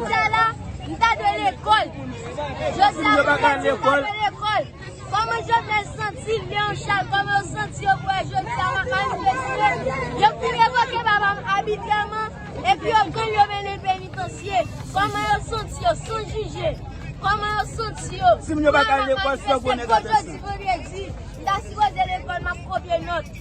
Jodia la m ta dwe lekòl. Jodia m ta di m ta dwe lekòl. Kòman Jovenel santi l Leon Charles? Kòman yo santi yo pou wè Jodia la manifeste? Yo fin revoke papa m abitrèman epi yo pran l yo mennen l penitansye. Kòman yo santi yo san jije? Kòman yo santi yo pou yo manifeste? Kòman yo santi yo pou yo manifeste? Kòman yo santi yo pou yo manifeste?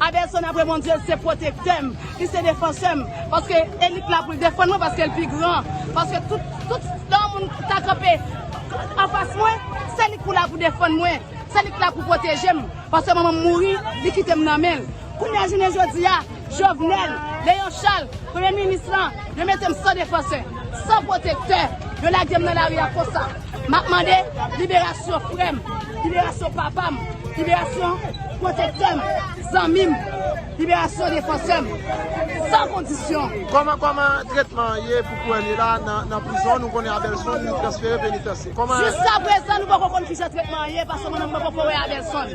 Adelson apre Bondye li se pwotektè m, li se defansè m, paske elit la pou l defann mwen paske l pi gran, paske tout tout lè yon moun ta kanpe anfas mwen se li k pou la pou defann mwen, se li k la pou pwoteje m, paske manman m mouri li kite m nan men l. Kounya jounen jodi a Jovenel, Léon Charles, premye minis lan yo mete m san defansè, san pwotektè, yo lage m nan lari a konsa. Map mande liberasyon frèm, liberasyon papam, liberasyon pwotektèm, zanmim, liberasyon defansèm, san kondisyon. Koman koman tretman an ye pou Kuerny la nan prizon nou konnen Abelson li transfere penitansye koman. Jiskaprezan nou poko konn kijan tretman an ye paske mwen menm mwen poko wè Abelson.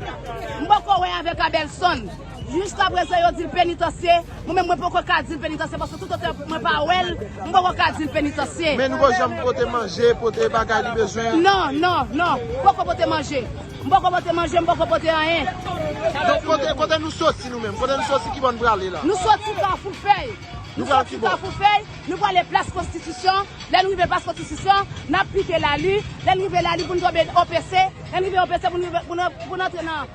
M poko wè avèk Abelson. Jiskaprezan yo di l penitansye, mwen menm mwen poko ka di l penitansye paske toutotan mwen pa wè l, mwen poko ka di l penitansye. Men nou poko janm pote manje, pote bagay li bezwen? Non, non, non. Poko pote manje. M poko pote manje, m poko pote anyen. Donk kote, kote nou soti nou menm? Kote nou soti, kibò n prale la? Nou soti Kafou Fèy. Nou pral kibò? Nou soti Kafou Fèy, nou prale Plas Konstitisyon. Lè n rive Plas Konstitisyon, n ap pike Lali. Lè n rive Lali pou n tonbe OPC. Lè n rive OPC pou n rive, pou n antre nan.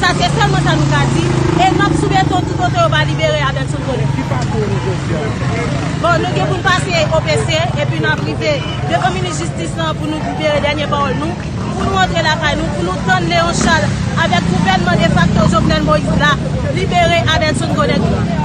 Sa se sèlman sa nou ka di. E n ap sou beton tout otan yo pa libere Abedson Colin. Ki pakou nou jodi a? Bon, nou gen pou n pase OPC, epi n ap rive devan minis jistis lan pou nou libere dènye pawòl nou, pou nou antre lakay nou, pou nou tann Léon Charles avèk gouvènman defakto Jovenel Moïse la libere Abedson Colin tou.